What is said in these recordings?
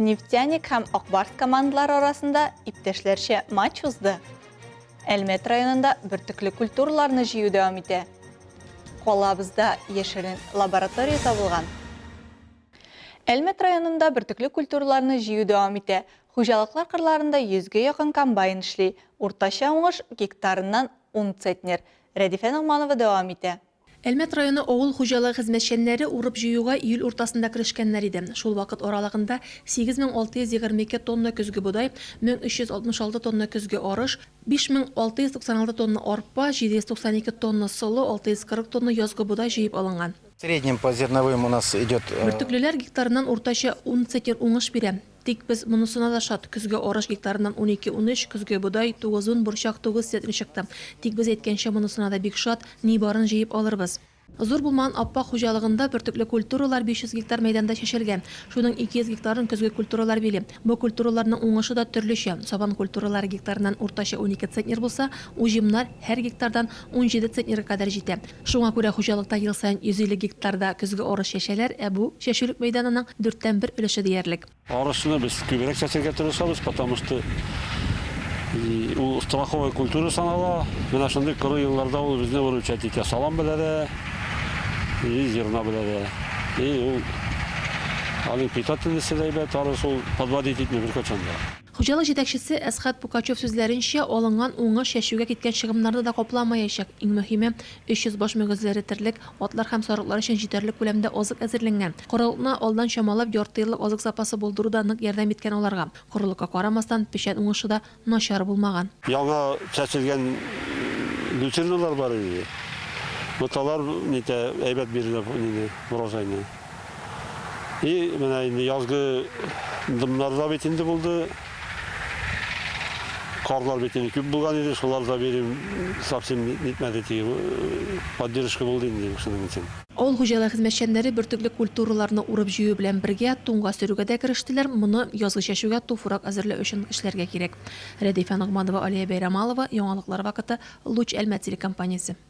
Нефтяник һәм Ак Барс командалары арасында иптәшләрчә матч узды. Әлмәт районында бөртекле культураларны җыю дәвам итә. Калабызда яшерен лаборатория табылган. Әлмәт районында бөртекле культураларны җыю дәвам итә. Хуҗалыклар кырларында 100 гә якын комбайн эшли. Уртача уңыш гектарыннан 10 центнер. Рәдифә Ногманова дәвам итә. Әлмәт районы авыл хуҗалыгы хезмәтчәннәре урып-җыюга июль уртасында керешкәннәр иде. Шул вакыт аралыгында 8622 тонна көзге бодай, 1366 тонна көзге арыш, 5696 тонна арпа, 792 тонна солы, 640 тонна язгы бодай җыеп алынган. В среднем по зерновым у нас идет. Бөртеклеләр гектарыннан уртача ун центнер уңыш бирә. Тик без монысына да шат, көзге арыш гектарыннан унике унөч, көзге бодай, тугызун, борчак тугыз центнер чыкты. Тик без әйткәнчә монысына да бик шат, ни барын җыеп алырбыз. Зур булмаган Аппак хуҗалыгында бөртекле культуралар 500 гектар мәйданда чәчелгән. Шуның 200 гектарын көзге культуралар били. Бу культураларның уңышы да төрлечә, сабан культуралары гектарыннан уртача унике центнер булса, уҗымнар, һәр гектардан, унҗиде центнерга кадәр җитә. Шуңа күрә хуҗалыкта ел саен 150 гектарда көзге арыш чәчәләр, ә бу, чәчүлек мәйданының дүрттән бер өлеше диярлек. Арышны без күбрәк чәчәргә тырышабыз, потому что ул страховой культура санала. Менә шундый коры елларда ул безне выручать итә, салам белән дә и зерно белән дә. И ул аның питательносте дә әйбәт, арыш ул подводить итми беркайчан да. Хуҗалык җитәкчесе Әсхәт Пукачев сүзләренчә, алынган уңыш чәчүгә киткән чыгымнарны да капламаячак. Иң мөһиме, 300 баш мөгезләре терлек, атлар һәм сарыклар өчен җитәрлек күләмдә азык әзерләнгән. Корылыкны алдан чамалап, ярты еллык азык запасы булдыру да нык ярдәм иткән аларга. Корылыкка карамастан, печән уңышы да начар булмаган. Яңа чәчелгән люцерналар бар иде. Боталар әйбәт бирде урожайны. И менә инде язгы дымнар да бит инде булды. Карлар бит инде күп булган иде, шулар да берим совсем нитмәде теге э, поддержка булды инде шуның өчен. Авыл хуҗалыгы хезмәтчәннәре бөртекле культураларны урып-җыю белән бергә туңга сөрүгә дә керештеләр, моны язгы чәчүгә туфрак әзерләү өчен эшләргә кирәк. Рәдифә Ногманова, Алия Бәйрәмалова, Яңалыклар вакыты, Луч Әлмәт телекомпаниясе.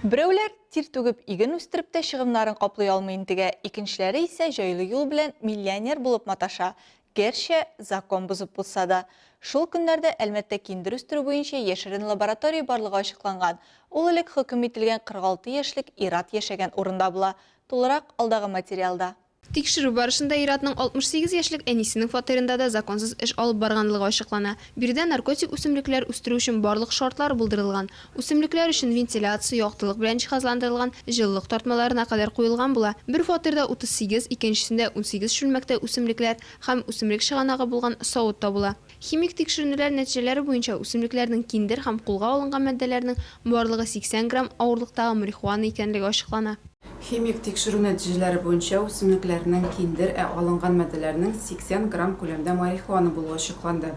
Берәүләр тир түгеп иген үстереп тә чыгымнарын каплый алмый интегә, икенчеләре исә җайлы юл белән миллионер булып маташа, гәрчә закон бозып булса да. Шул көннәрдә Әлмәттә киндер үстерү буенча яшерен лаборатория барлыгы ачыкланган. Ул элек хөкем ителгән 46 яшьлек ир-ат яшәгән урында була. Тулырак алдагы материалда. Тикшерү барышында ир-атның 68 яшьлек әнисенең фатирында да законсыз эш алып барганлыгы ачыклана. Биредә наркотик үсемлекләр үстерү өчен барлык шартлар булдырылган. Үсемлекләр өчен вентиляция, яктылык белән җиһазландырылган җылылык тартмаларына кадәр куелган була. Бер фатирда 38, икенчесендә унсигез чүлмәктә үсемлекләр һәм үсемлек чыганагы булган савыт табыла. Химик тикшеренүләр нәтиҗәләре буенча үсемлекләрнең киндер һәм кулга алынган маддәләрнең барлыгы 80 грамм авырлыктагы марихуана икәнлеге ачыклана. Химик тикшерү нәтиҗәләре буенча үсемлекләрнең киндер, ә алынган маддәләрнең 80 грамм күләмдә марихуана булуы ачыкланды.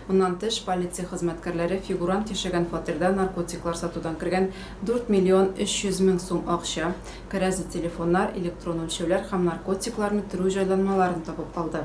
Моннан тыш, полиция хезмәткәрләре фигурант яшәгән фатирда наркотиклар сатудан кергән 4 миллион 300 мең сум акча, кәрәзле телефоннар, электрон үлчәүләр һәм наркотикларны төрү җайланмаларын табып алды.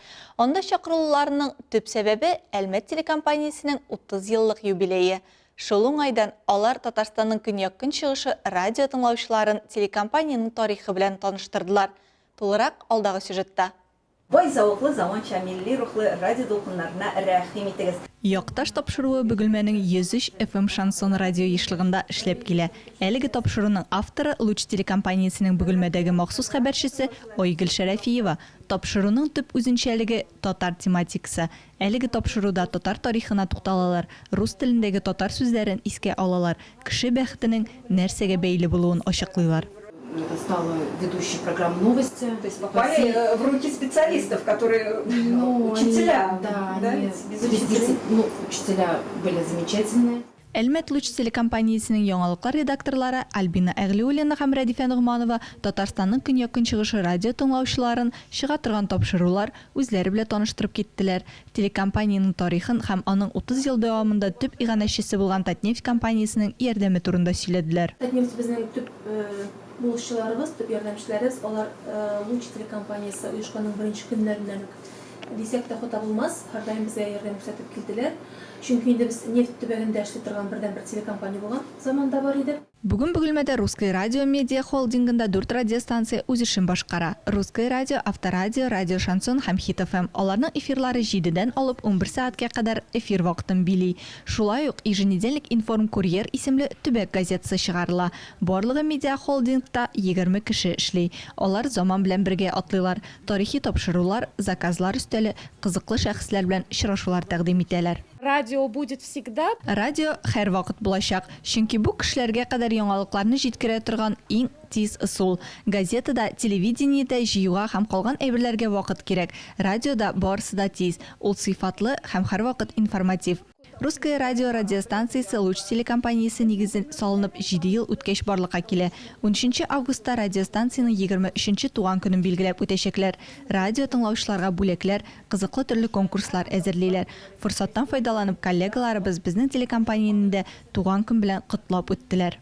Анда чакырылуларның төп сәбәбе, Әлмәт телекомпаниясенең 30 еллык юбилее. Шул уңайдан алар Татарстанның көньяк-көнчыгышы радио тыңлаучыларын телекомпаниянең тарихы белән таныштырдылар. Тулырак, алдагы сюжетта. Бай зәвыклы, заманча, милли рухлы радио дулкыннарына рәхим итегез! Якташ тапшыруы Бөгелмәнең 103 FM шансон радио ешлыгында эшләп килә. Әлеге тапшыруның авторы, Луч телекомпаниясенең Бөгелмәдәге махсус хәбәрчесе Айгөл Шәрәфиева. Тапшыруның төп үзенчәлеге, татар тематикасы. Әлеге тапшыруда татар тарихына тукталалар, рус телендәге татар сүзләрен искә алалар, кеше бәхетенең нәрсәгә бәйле булуын ачыклыйлар. Әлмәт луч телекомпаниясенең яңалыклар редакторлары Альбина Әгълиуллина һәм Рәдифә Ногманова Татарстанның көньяк-көнчыгышы радио тыңлаучыларын чыга торган тапшырулар, үзләре белә таныштырып киттеләр, телекомпаниянең тарихын һәм аның 30 ел дәвамында төп иганәчесе булган Татнефть компаниясенең ярдәме турында сөйләделәр. Татнефть безнең төп булышчыларыбыз, төп ярдәмчеләребез, алар луч телекомпаниясе оешканның беренче көннәреннән үк Дисәк тә хата булмас, һәрдаим безгә ярдәм күрсәтеп килделәр. Чөнки инде без нефть төбәгендә эшли торган бердәнбер телекомпания булган заман да бар иде. Бүген Бөгелмәдә Русское радио медиа холдингында дүрт радиостанция үз эшен башкара, Русское радио, Авторадио, Радио Шансон һәм Хит-ФМ. Аларның эфирлары җидедән алып унбер сәгатькә кадәр эфир вакытын били. Шулай ук Еженедельник информ-курьер исемле төбәк газетасы чыгарыла. Барлыгы медиахолдингта егерме кеше эшли. Алар заман белән бергә атлыйлар. Тарихи тапшырулар, заказлар өстәле, кызыклы шәхесләр белән очрашулар тәкъдим итәләр. Радио будет всегда. Радио һәрвакыт булачак, чөнки бу кешеләргә кадәр яңалыкларны җиткерә торган иң тиз ысул. Газетада, телевидениедә җыюга һәм калган әйберләргә вакыт кирәк, радиода барысы да тиз, ул сыйфатлы һәм һәрвакыт информатив. Русское радио радиостанциясе Луч телекомпаниясе нигезен салынып җиде ел үткәч барлыкка килә. Унөченче августта радиостанциянең егерме өченче туган көнен билгеләп үтәчәкләр. Радио тыңлаучыларга бүләкләр, кызыклы төрле конкурслар әзерлиләр. Форсаттан файдаланып коллегаларыбыз безнең телекомпаниянедә туган көн белән котлап үттеләр.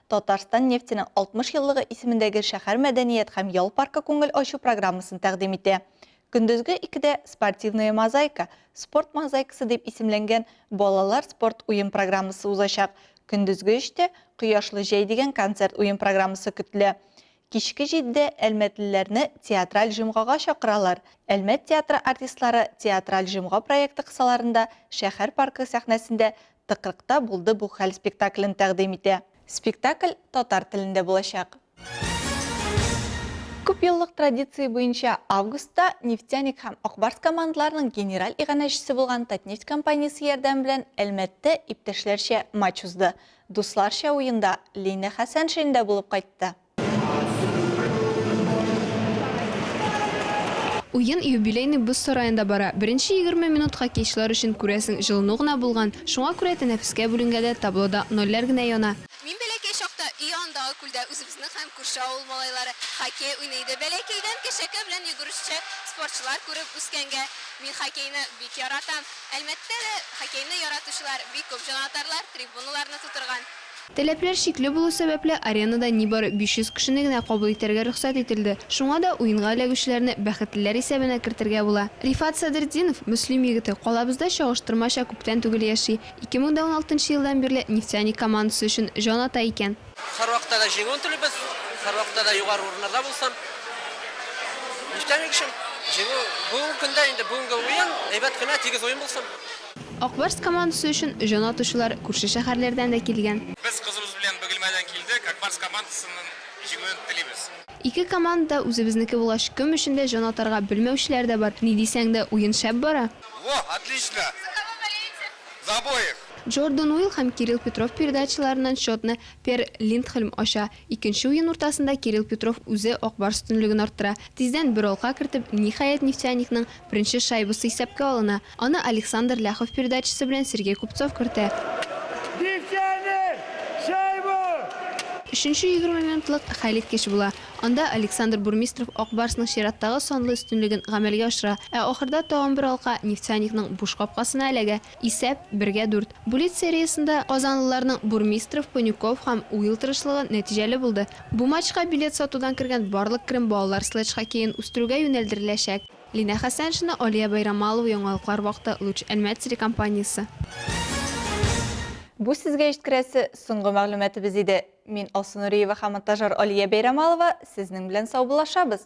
Татарстан нефтенең 60 еллыгы исемендәге шәһәр мәдәният һәм ял паркы күңел ачу программасын тәкъдим итә. Көндезге икедә Спортивная мозаика, спорт мозаикасы дип исемләнгән балалар спорт уен программасы узачак, көндезге өчтә Кояшлы җәй дигән концерт уен программасы көтелә. Кичке җидедә әлмәтлеләрне театраль җомгага чакыралар. Әлмәт театры артистлары Театраль җомга проекты кысаларында шәһәр паркы сәхнәсендә Тыкрыкта булды бу хәл спектаклен тәкъдим итә. Спектакль татар телендә булачак. Күпьеллык традиция буенча, августта Нефтяник һәм Ак Барс командаларының генераль иганәчесе булган Татнефть компаниясе ярдәме белән Әлмәттә иптәшләрчә матч узды. Дусларча уенда Лина Хәсәншин дә булып кайтты. Уен юбилейный боз сараенда бара. Беренче егерме минутка кичлар өчен, күрәсең, җылыну гына булган. Шуңа күрә тәнәфескә бүленгәдә таблода нольләр генә яна. Мин бәләкәй чакта өй янындагы күлдә үзебезнең һәм күрше авыл малайлары хоккей уйный иде. Бәләкәйдән кешәкә белән йөгерешче спортчылар күреп үскәнгә, мин хоккейны бик яратам. Әлмәттә дә хоккейны яратучылар бик күп, җанатарлар трибуналарны тутырган. Таләпләр чикле булу сәбәпле, аренада нибары 500 кешене генә кабул итәргә рөхсәт ителде, шуңа да уенга эләгүчеләрне бәхетлеләр исәбенә кертергә була. Рифат Садретдинов, Мөслим егете, калабызда чагыштырмача күптән түгел яши, 2016 елдан бирле Нефтяник командасы өчен җан ата икән. Һәрвакытта да җиңүен телибез, һәрвакытта да югары урыннарда булсын. Нефтяник өчен җиңү, бүгенге көндә инде, бүгенге уен әйбәт кенә, тигез уен булсын. Ак Барс командасы өчен җан атучылар күрше шәһәрләрдән дә килгән. Без кызыбыз белән Бөгелмәдән килдек, Ак Барс командасының җиңүен телибез. Ике команда да үзебезнеке булгач, кем өчен дә җан атарга белмәүчеләр дә бар. Ни дисәң дә, уен шәп бара. Во, отлично! За кого болеете? За обоих! Джордан Уилл һәм Кирилл Петров передачаларыннан счетны Пер Линдхольм ача. Икенче уен уртасында Кирилл Петров үзе Ак Барс өстенлеген арттыра. Тиздән бер алка кертеп, ниһаять, Нефтяникның беренче шайбасы исәпкә алына. Аны Александр Ляхов передачасы белән Сергей Купцов кертә. Нефтяник! Шайба! Өченче егерме минутлык хәлиткеч була. Анда Александр Бурмистров Ак Барсның чираттагы санлы өстенлеген гамәлгә ашыра, ә ахырда тагын бер алка Нефтяникның буш капкасына эләгә. Исәп, бергә дүрт. Буллит сериясендә казанлыларның Бурмистров, Панюков һәм Уилл тырышлыгы нәтиҗәле булды. Бу матчка билет сатудан кергән барлык керем балалар следж хоккеен үстерүгә юнәлдереләчәк. Линә Хәсәншина, Алия Байрамалова Яңалыклар вакыты, Луч Әлмәт телекомпаниясе. Бу сезгә җиткерәсе соңгы мәгълүматыбыз иде. Мин Алсу Нуриева һәм монтажер Алия Бәйрәмалова сезнең белән саубуллашабыз.